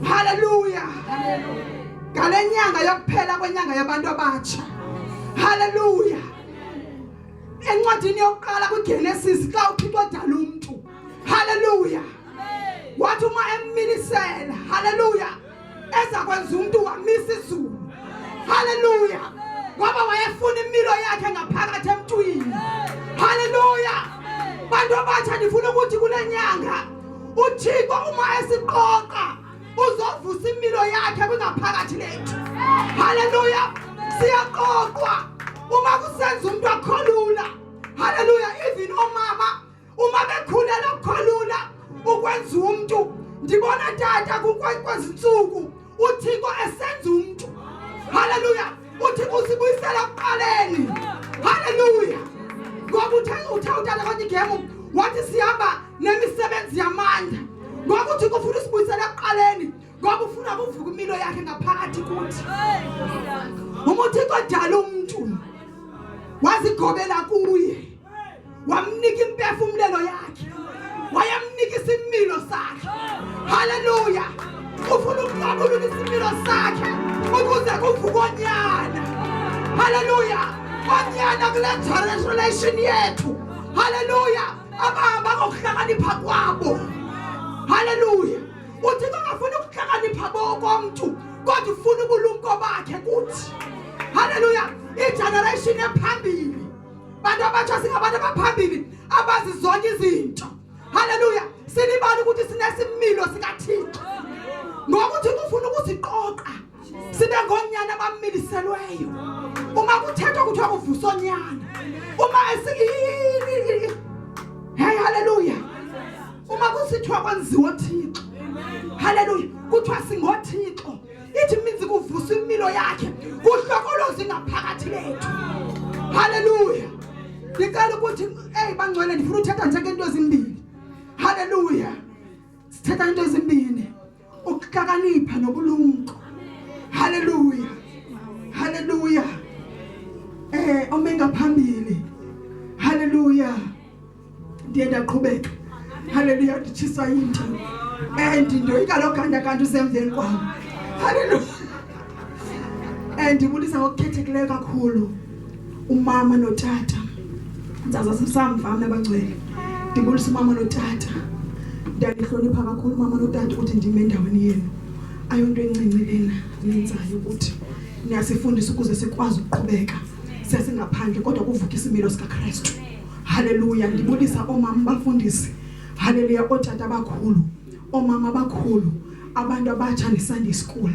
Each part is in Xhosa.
haleluya ngale nyanga yokuphela kwenyanga yabantu abatsha haleluya encwadini yokuqala kwigenesis xa uthixo odala umntu haleluya wathi uma emmilisela haleluya eza kwenza umntu wamisa izulu haleluya ngoba wayefuna imilo yakhe ngaphakathi emntwini haleluya bantu abatsha ndifuna ukuthi kule nyanga uthixo umayesixoxa uzovusa imilo yakhe kungaphakathi lethu haleluya siyaqoqwa uma kusenza umuntu akholula haleluya even omama uma bekhulela ukukholula ukwenza umuntu ndibona tata kwezinsuku uthixo esenza umntu haleluya uthixo usibuyisela kuqaleni haleluya ngoba uthe uthe utata kwathi igemu wathi sihamba nemisebenzi yamandla ngoba uthixo ufuna usibuyisela kuqaleni ngoba ufuna kuvuka imilo yakhe ngaphakathi kuthi uma uthixo odala umntu wazigobela kuye wamnika impefumlelo yakhe wayamnika isimilo sakhe haleluya ufuna ukuqabulula isimilo sakhe ukuze kuvuke onyana haleluya onyana kule generation yethu haleluya abahamba ngokuhlakanipha kwabo haleluya uthi kangafuni ukuhlakanipha bokomntu kodwa ufuna ubulumko bakhe kuthi haleluya igeneration ephambili bantu abatsha singabantu abaphambili abazi zonke izinto haleluya silibala ukuthi sinesimilo sikathixo ngokuthi kufuna ukusiqoqa sibe ngonyana abamiliselweyo uma kuthethwa kuthiwa kuvusa onyana uma esiyini hey haleluya uma kusithiwa kwenziwa thixo haleluya kuthiwa singothixo ithi minzi kuvusa impilo yakhe kuhlokoloza ingaphakathi lethu haleluya ndicela ukuthi eyi bangcwele ndifuna uthetha nje ngento ezimbini haleluya sithetha into ezimbini ukuhlakanipha nobulumko haleluya haleluya eh omengaphambili haleluya ndiye ndaqhubeka haleluya nditshiswa yinto and ndoyika loo ganda kanti usemveni kwam haleluya and ndibulisa ngokukhethekileyo kakhulu umama notata ndizaza sisamva mna abangcwele ndibulisa umama notata ndiyandihlonipha kakhulu umama notata ukuthi ndime endaweni yenu ayonto encinci lena nenzayo ukuthi niyasifundisa ukuze sikwazi ukuqhubeka sesingaphandle kodwa kuvuka isimilo sikakrestu haleluya ndibulisa oomama bafundisi haleluya ootata abakhulu oomama abakhulu abantu abatsha nesunday school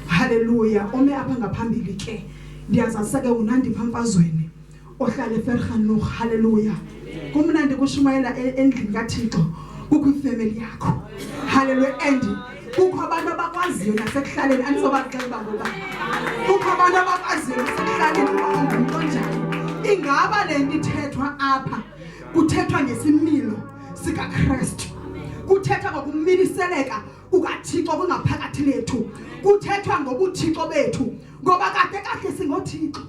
haleluya ome apha ngaphambili ke ndiyazazisa ke unandipha mfazweni ohlala eferhanuh haleluya kumnandi kushumayela e-, endlini kathixo kukho ifemeli yakho haleluya and kukho abantu abakwaziyo nasekuhlaleni andizobaxela uba ngoba kukho abantu abakwaziyo nasekuhlaleni uba ungumntu onjani ingaba le nto ithethwa apha kuthethwa ngesimilo sikakrestu kuthethwa ngokumiliseleka kukathixo kungaphakathi lethu kuthethwa ngobuthixo bethu ngoba kade kahle singothixo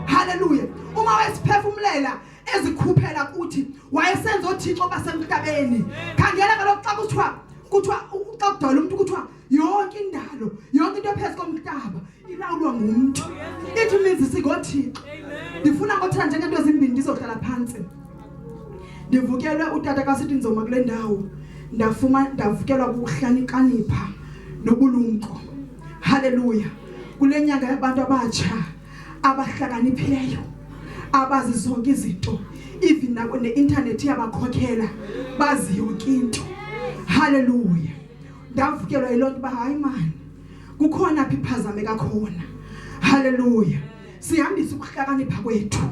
haleluya uma wesiphefumulela ezikhuphela kuthi wayesenza oothixo basemhlabeni khangela kaloku xa kuthiwa kuthiwa xa kudala umntu kuthiwa yonke indalo yonke into ephezu komhlaba ilawulwa ngumntu ithi umenzi singothixo ndifuna ngothetha njengeento ezimbini ndizohlala phantsi ndivukelwe utata kasithi nzoma kule ndawo ndafuma ndavukelwa kukuhlanikanipha nobulumko haleluya kule nyanga yabantu abatsha abahlakaniphileyo abazi zonke izinto even nako ne-internet iyabakhokhela bazi yonke into halleluya ndavukelwa yiloo nto uba hayi mani kukhona phi phazame kakhona halleluya sihambise ukuhlakanipha kwethu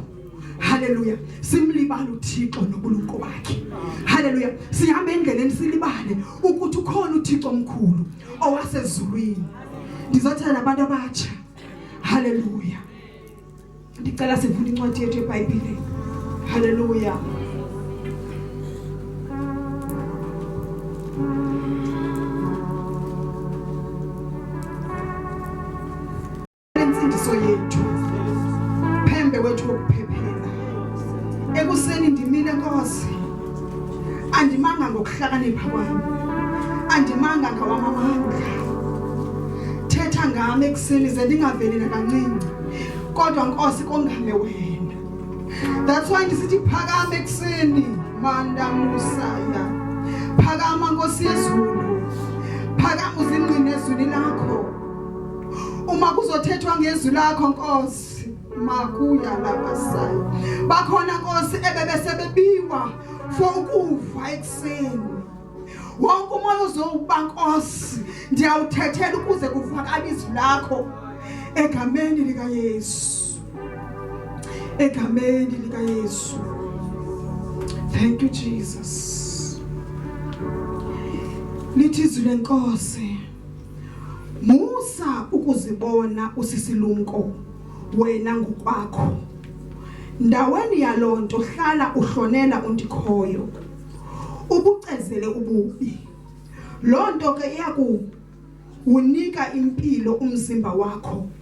haleluya simlibala uthixo nobulumko bakhe haleluya sihamba endleleni silibale ukuthi ukhona uthixo omkhulu owasezulwini ndizothela nabantu abatsha Haleluya. Ndicela sivule incwadi yethu yeBhayibhile. Haleluya. Insindiso yethu. Phembe wethu wokuphephela. Ekuseni ndimile Nkosi. andimanga ngokuhlakanipha kwam andimanga ngawamamandla thetha ngam ekuseni ze ndingaveli nakancinci kodwa nkosi kongame wena that's why ndisithi phakama ekuseni mandamusaya phakama nkosi yezulu phakama uzingqine ezwini lakho uma kuzothethwa ngezwi lakho nkosi makuya labasayo bakhona nkosi ebebesebebiwa for ukuva ekuseni wonke umoya uzowuba nkosi ndiyawuthethela ukuze kuvakale izwi lakho egameni likayesu egameni likayesu thank you jesus lithi izwi lenkosi musa ukuzibona usisilumko wena ngokwakho ndaweni yaloo nto hlala uhlonela undikhoyo ubucezele ububi loo nto ke iyakuwunika impilo umzimba wakho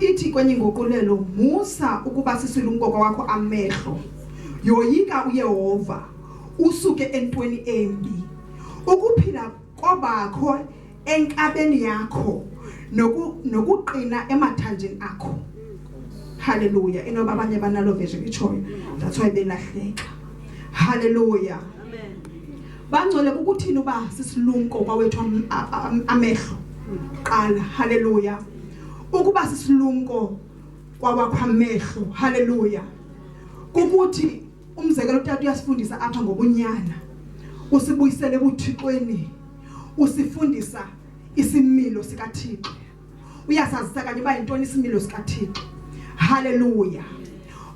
ithi kwenye inguqulelo musa ukuba sisilumko kwakho amehlo yoyika uyehova usuke entweni embi ukuphila kobakho enkabeni yakho noku nokuqina emathanjeni akho haleluya inoba abanye banalo vision itshoyo that's why belahleka haleluya bangcwele kukuthini uba sisilumko kwawethu amehlo qala haleluya ukuba sisilumko kwawakho amehlo haleluya kukuthi umzekelo utata uyasifundisa apha ngobunyana usibuyisele ebuthixweni usifundisa isimilo sikathixo uyasazisa kanye uba yintoni isimilo sikathixo haleluya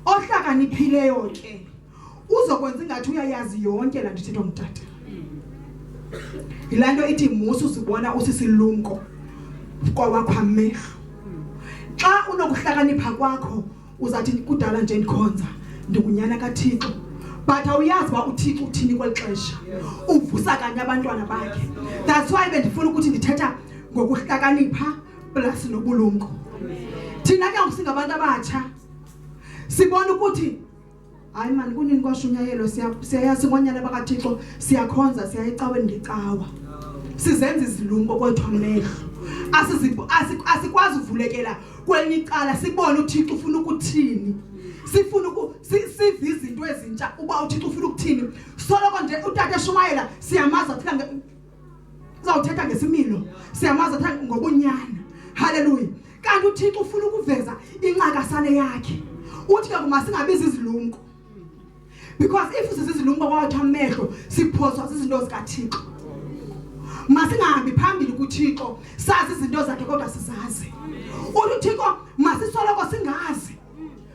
ohlakaniphileyo ke uzokwenza ingathi uyayazi yonke laa nto ithethwa ngutata yilaa nto ithi musa uzibona usisilumko kwawakho amehlo xa unokuhlakanipha kwakho uzathi kudala nje ndikhonza ndingunyana kathixo but awuyazi uba uthixo uthini kweli xesha uvusa kanye abantwana bakhe that's why bendifuna ukuthi ndithetha ngokuhlakanipha plus nobulumko thina ke ngoku singabantu abatsha sibona ukuthi hayi mani kunini kwashunyayelwa siyayazi ngonyana bakathixo siyakhonza siya ecaweni ngecawa sizenza izilumko kwethu amehlo asikwazi uvulekela kwelinye icala sibone uthixo ufuna ukuthini sifuna sive izinto ezintsha uba uthixo ufuna ukuthini soloko nje utata eshumayela siyamazi athika uzawuthetha ngesimilo siyamazi athe ngobunyana halleluya kanti uthixo ufuna ukuveza incakasane yakhe uthi ke kuma singabizi izilumko because if sizizilumko kwawatha amehlo siphoswa zizinto zikathixo masingahambi phambili kuthixo sazi izinto zakhe kodwa sizazi uthi uthixo masisoloko singazi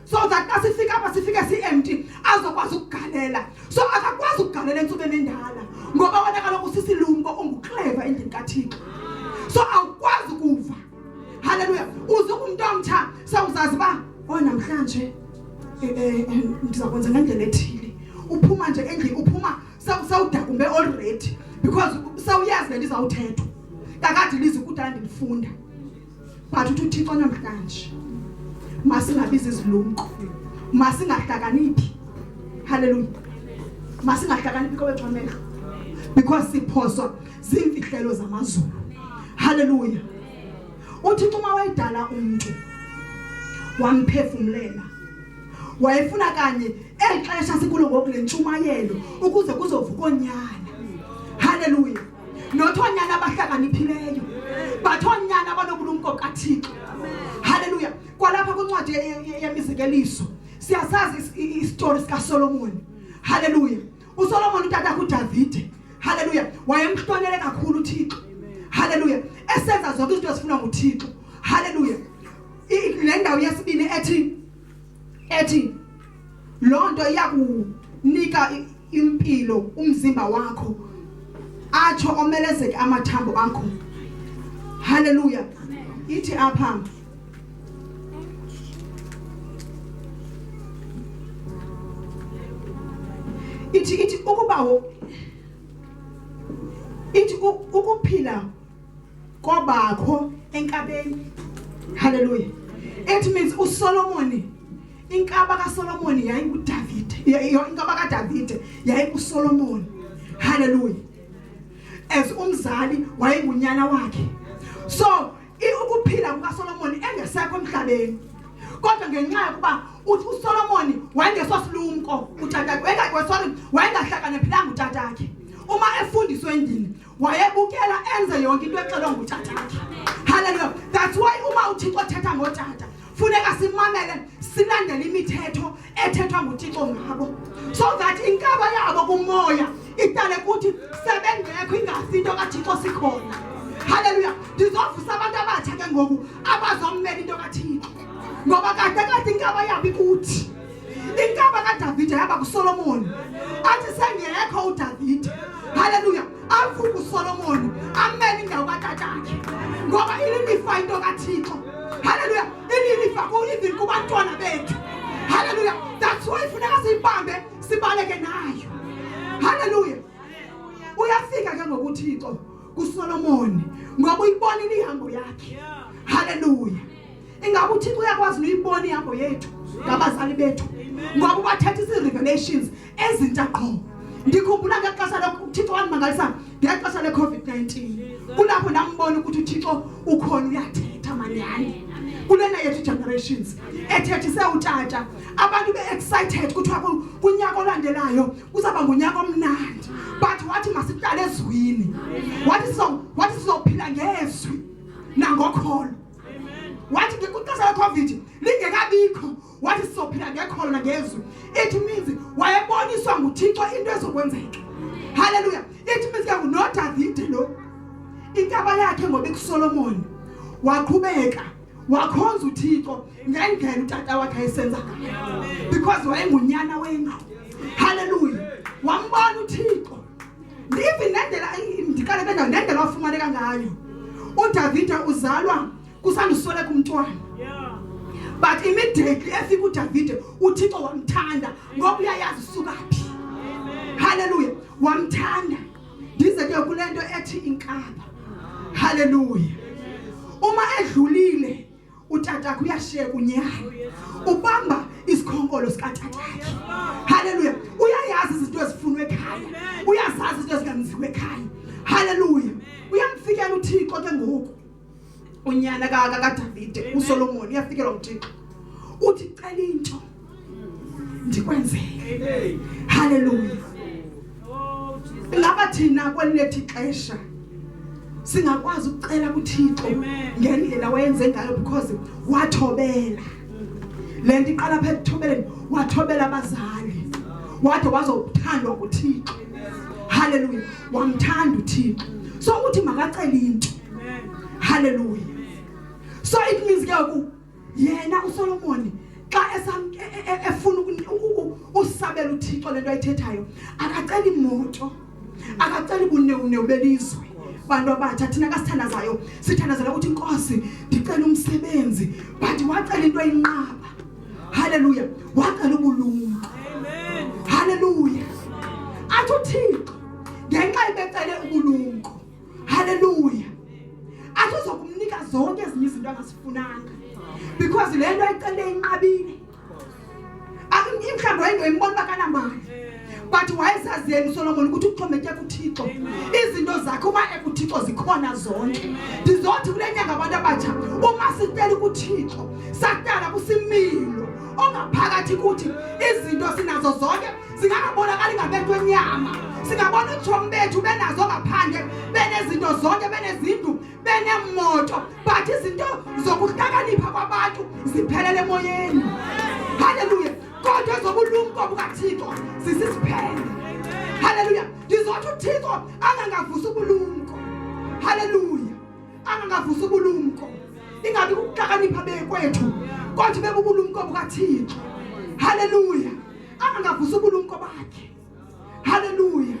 so that xa sifika apha sifike si-empty azokwazi ukugalela so akakwazi ukugalela entsubeni endala ngoba wena kaloku sisilumko ungukleva endlini kathixo so awukwazi ukuva halleluya uze kumntu omtsha sewuzazi uba o oh, namhlanje eh, eh, eh, ndiza kwenza ngendlela ethile uphuma nje endlini uphuma sewudakumbe already because sewuyazi le nto izawuthethwa kakade lizi kudala ndilifunda but uthi uthixo namhlanje masingabizi izilumko masingahlakaniphi haleluya masingahlakaniphi kowethu amehlo because siphoswa ziimfihlelo zamazulu haleluya uthixo uma wayidala umntu wamphefumlela wayefuna kanye eli xesha sikulo ngoku le ntshumayelo ukuze kuzovuka onyana haleluya not oonyana abahlakaniphileyo but oonyana abanobulumko bukathixo halleluya kwalapha kwincwadi yemizekeliso siyasazi isitori sikasolomoni halleluya usolomoni utata kudavide halleluya wayemhlonele kakhulu uthixo halleluya esenza zonke izinto ezifunwa nguthixo halleluya le ndawo yesibini ethi ethi loo nto iya kunika impilo umzimba wakho atsho omelezeke amathambo akho haleluya ithi apha ithi ithi ukuba ithi ukuphila kwabakho enkabeni halleluya it means usolomoni inkaba kasolomoni yayingudavide inkaba kadavide yayingusolomoni halleluya as umzali wayengunyana wakhe so ukuphila kukasolomoni engesekho emhlabeni kodwa ngenxa yokuba uthi usolomoni wayengesosilumko utatakhe sorry wayengahlakaniphilanga utatakhe uma efundiswe endlini wayebukela enze yonke into exelwa ngutata haleluya that's why uma uthixo thetha ngotata funeka simamele silandele imithetho ethethwa ngutixo ngabo so that inkaba yabo kumoya idale kuthi sebengekho ingasi into kathixo sikhona haleluya ndizovusa abantu abatsha ke ngoku abazommela into kathixo ngoba kade kade inkaba yabo ikuthi inkaba kadavide yaba kusolomoni athi sengekho udavide halleluya avuke usolomoni amele indawo katatakhe ngoba ililifa into kathixo halleluya ililifa even kubantwana bethu halleluya that's why funeka siyibambe sibaleke nayo halleluya uyafika ke ngokuthixo kusolomoni ngoba uyibonile ihambo yakhe halleluya ingaba uthixo uyakwazi nuyibona ihambo yethu ngabazali bethu ngoba ubathetha isi-revelations ezintsha qho ndikhumbula ngexesha lokuthixo wandimangalisa ngexesha le-covid-19 kulapho ndambona ukuthi uthixo ukhona uyathetha manyani kulena yethu generations ethethise utata abantu be-excited kuthiwa kunyaka olandelayo kuzaba ngunyaka omnandi but wathi masiqale ezwini wathi sizophila ngezwi nangokholo wathi kwixesha lecovid lingekabikho wathi sizophila ngekholo nangezwi it means wayeboniswa nguthixo into ezokwenzeka halleluya it means ke ngunodavide lo intaba yakhe ngoba ikusolomoni waqhubeka wakhonza uthixo ngendlela utata wakhe ayisenza ngayo because wayengunyana wendlu halleluya wambona uthixo ndive nendlela ndiqale bendawo nendlela wafumaneka ngayo udavida uzalwa kusandusweleka umntwana but immediately efika udavide uthixo wamthanda ngoba uyayazi usuka phi halleluya wamthanda ndize ke kule nto ethi inkaba halleluya uma edlulile utatakho uyasheka unyana oh, ubamba isikhonkolo sikatatakhe haleluya uyayazi izinto ezifunwa ekhaya uyazazi izinto ezinganziwa ekhaya haleluya uyamfikela uthixo ke ngoku unyana kakadavide usolomoni uyafikelwa nguthixo uthi cela into ndikwenzele. Haleluya. Ngaba thina kwelithi xesha singakwazi ukucela kuThixo ngendlela wayenze ngayo because wathobela. Lento iqala phe kuthobeleni wathobela abazali. Wade wazothandwa nguThixo. Haleluya. Wamthanda uThixo. So uthi makacela into. Haleluya. So it means ke yena usolomoni xa e, e, efuna usabela uthixo le nto ayithethayo akaceli moto akaceli bunewunewu belizwe bantu abatsha thina kasithandazayo sithandazela ukuthi inkosi ndicela umsebenzi but wacela into ayinqaba haleluya wacela ubulumko haleluya athi uthixo ngenxa ibecele ubulumko haleluya athi uzokumnika zonke ezinye izinto angazifunanga because le nto ayicele inqabile imhlawumbi wayengoyimbona uba kanamali but wayezazi yena usolomoni ukuthi uxhomeke kuthixo izinto zakhe uma ekuthixo zikhona zonke ndizothi kule nyanga abantu abatsha uma sicela ukuthixo sahlala kusimilo ongaphakathi kuthi izinto sinazo zonke zingangabonakali ngamehlo enyama singabona utshomi bethu benazo ngaphandle benezinto zonke benezindlu beneemoto but izinto zokuhlakanipha kwabantu ziphelele emoyeni halleluya kodwa ezobulumko bukathixo zisisiphele halleluya ndizothi uthixo angangavusi ubulumko halleluya angangavusi ubulumko ingabi kukuhlakanipha bekwethu kodwa ibe bubulumko bukathixo halleluya angangavusa ubulumko bakhe haleluya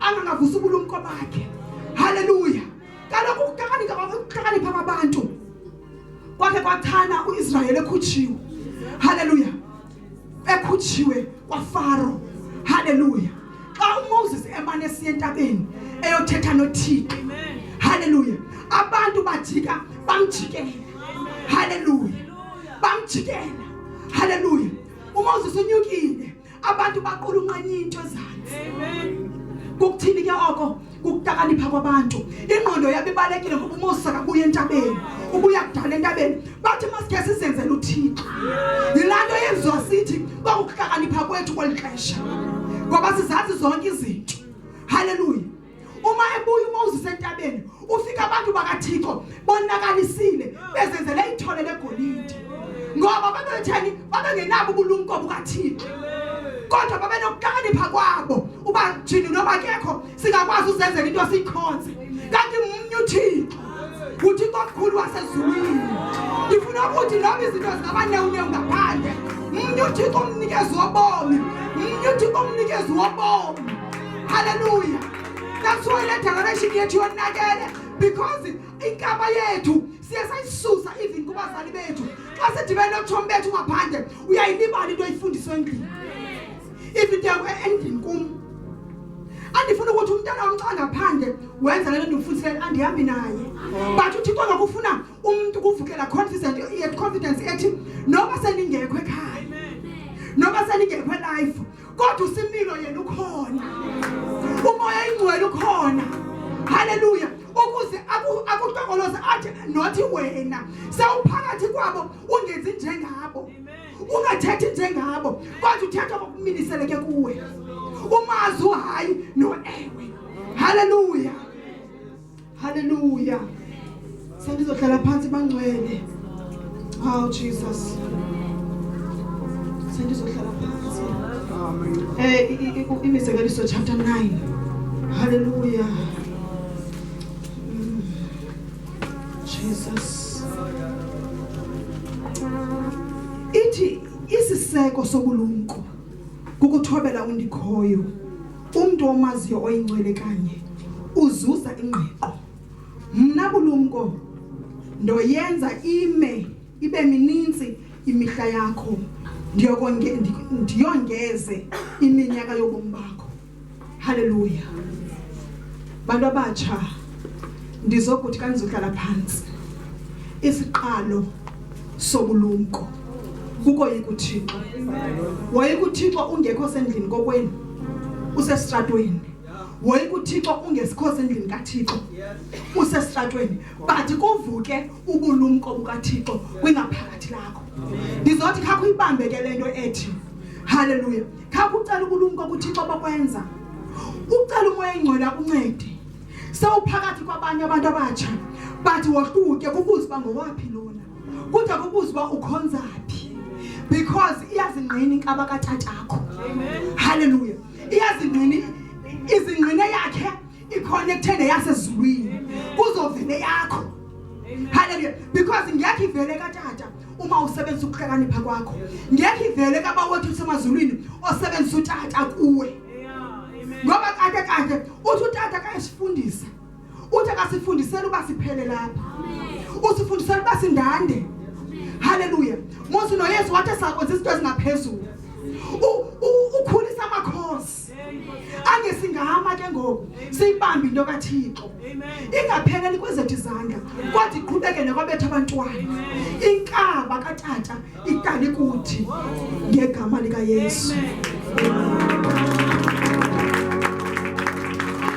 angangavusa ubulumko bakhe haleluya kaloku ukuhlakanipha kwabantu kwakhe kwathana uIsrayeli ekhutshiwe haleluya ekhutshiwe kwaFaro haleluya xa uMoses emane esiya entabeni eyothetha noThixo haleluya abantu bajika bamjikela haleluya bamjikela haleluya umoses unyukile abantu baqulunqanya into ezantsi kukuthini ke oko kukutakanipha kwabantu ingqondo yabo ibalekile ngoba umoses akabuye entabeni ubuya kudala entabeni bathi masikhe sizenzele uthixo yilaa nto yenziwa sithi kwakukuhlakanipha kwethu kweli xesha ngoba sizazi zonke izinto haleluya uma ebuya uma uzisentabeni ufika abantu bakaThixo bonakalisile bezenzele ithole legolide ngoba babetheni babengenabo ubulumko bukaThixo kodwa babenokuhlakanipha kwabo uba jini noma kekho singakwazi uzenzela into sikhonze kanti umnye uThixo Uthi kwakhulu wasezulwini ndifuna ukuthi noba izinto zikabanewunewu ngaphandle mnye uthixo umnikezi wobomi mnye uthixo umnikezi wobomi halleluya that's why le generation yethu yonakele because inkaba yethu siye sayisusa even kubazali bethu xa sidibene notshomi bethu ngaphandle uyayilibala into oyifundiswe endlini ifideko e-, endlini kum andifuna ukuthi umntana wam xa ngaphandle wenza le nto ndimfundisele andihambi naye oh. but uthixo ngakufuna umntu kuvukela confident yet confidence ethi noba sendingekho ekhaya noba sendingekho elife kodwa usimilo yena ukhona umoya ingcwele ukhona haleluya ukuze akutokoloze athi nothi wena sewuphakathi kwabo ungenzi njengabo ungathethi njengabo kodwa uthetha ngokumiliseleke kuwe umazi uhayi noewe haleluya haleluya sendizohlala phantsi bangcwele oh jesus sendizohlala phantsi um imizekeliso chapter 9 haleluya Jesus. Ithi isiseko sobulumko kukuthobela undikhoyo. Umntu omaziyo oyincwele kanye uzuza ingqiqo. Mna bulumko ndoyenza ime ibe mininzi imihla yakho ndiyongeze iminyaka yobomi bakho Haleluya. Bantu abatsha ndizokuthi kandizohlala phansi. Isiqalo sobulumko kuko yikuthixo. Wayekuthixo ungekho sendlini kokwenu. Usestratweni. Wayekuthixo ungesikho sendlini kaThixo. Usestratweni. But kuvuke ubulumko bukaThixo kwingaphakathi lakho. Ndizothi khakho ibambeke lento ethi. Haleluya. khapha ucela ubulumko kuthixo bokwenza ucela umoya engcwele akuncede sewuphakathi kwabanye abantu abatsha bathi wohluke kubuze uba ngowaphi lona kude kubuze uba ukhonza phi because iyazingqina inkaba katatakho halleluya iyazingqina izingqine yakhe ikhona ekuthende yasezulwini kuzovele yakho halleluya because ngekho ivele katata uma usebenzisa ukuhlakanipha kwakho ngeke ivele kaba wothi usemazulwini osebenzisa utata kuwe ngoba kade kade uthi utata kayesifundisa uthi akasifundisela uba siphele lapha usifundisela uba sindande haleluya mose noyesu wathi sakwenza izinto ezingaphezulu ukhulisa amakhosi angesingama ke ngoku siyibambe into kathixo ingapheleli kwezethu izandla kodwa iqhubekele kwabetha abantwana inkaba katata itali kuthi ngegama likayesu Amen.